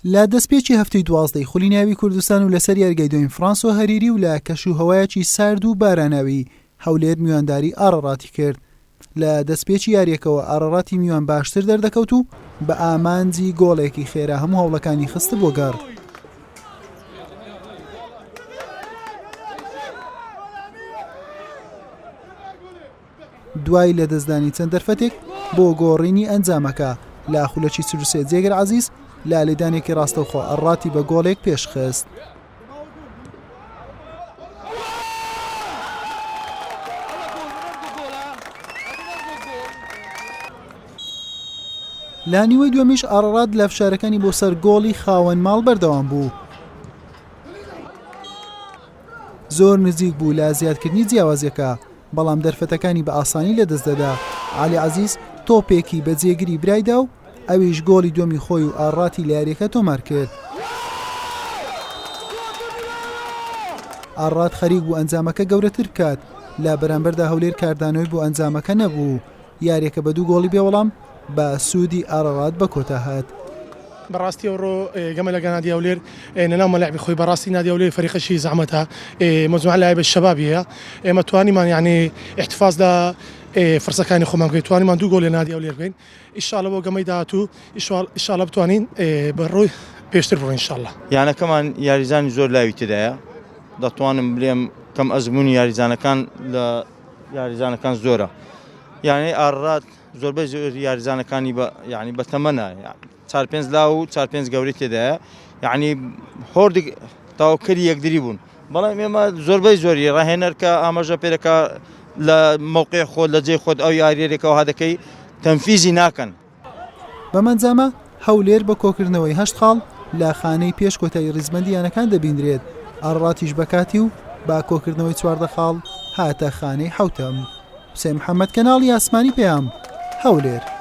لە دەستپێکی هەفتەی دوازدەی خولی ناوی کوردستان و لەسەر یاریگای دوێن فرانسۆ هەریری و لە کەش و هەوایەکی سارد و باراناوی هەولێر میوانداری ئاڕاڕاتی کرد لە دەستپێکی یاریەکەوە ئاڕاڕاتی میوان باشتر دەردەکەوت و بە ئامانجی گۆڵێکی خێرا هەموو هەوڵەکانی خستە بۆ گەڕ دوای لەدەستدانی چەند دەرفەتێک بۆ گۆڕینی ئەنجامەکە لە خولەکی چل و سێ جێگر عەزیز لە لێدانێکی ڕاستەوخۆ ڕاتی بە گۆڵێک پێشخست. لە نیوەی دووەمیش ئاڕڕات لە فشارەکانی بۆ سەر گۆڵی خاوەن ماڵ بەردەوام بوو. زۆر نزیک بوو لە زیادکردنی جیاوازیەکە، بەڵام دەرفەتەکانی بە ئاسانی لەدەست دەدا، عەلی عەزیز تۆپێکی بە جێگری برای دا و ئەویش گۆڵی دووەمی خۆی و ئاڕاتی لە یاریەکە تۆمارکرد. ئاڕات خەریک بوو ئەنجامەکە گەورەتر بکات، لە بەرامبەردا هەولێر کاردانەوەی بۆ ئەنجامەکە نەبوو، یاریەکە بە دوو گۆڵی بێ وەڵام بە سوودی ئارارات بە کۆتا هات. بەڕاستی ئەوڕۆ گەمە لەگا نادی هەولێر نەناو مەلعبی خۆی بەڕاستی نادی هەولێر فەریقەشی زەحمەتە مەجموعە لایە بە شەبابیە ئێمە توانیمان یعنی احتفاز لە فرسەکانی خۆمان بکەین توانیمان دوو گۆل لە نادی هەولێر بکەین ئیشاڵە بۆ گەمەی داهاتوو ئیشاڵە بتوانین بە ڕووی پێشتر بڕۆین ئیشاڵە یانەکەمان یاریزانی زۆر لاوی تێدایە دەتوانم بلێم کەم ئەزموونی یاریزانەکان لە یاریزانەکان زۆرە یانەی ئارڕات زۆربەی زۆر یاریزانەکانی بە یعنی بە تەمەە چار پێنج لا و چار پێنج گەوری تێدایە یعنی هۆردی تاوکەری یەکدری بوون بەڵام ئێمە زۆربەی زۆری ڕاهێنەر کە ئاماژە پێرەکە لە مووقعی خۆت لە جێ خۆت ئەو یاریێکەوە هادەکەی تەنفیزی ناکەن بەمەنجامە هەولێر بە کۆکردنەوەی هەشت خاڵ لە خانەی پێش کۆتایی ریزبەندی یانەکان دەبینرێت، ئاڕڵاتیش بە کاتی و بە کۆکردنەوەی چواردە خاڵ هاتە خانەی حەوتەم. حوسێن محەمەد، کەناڵی ئاسمانی پەیام، هەولێر.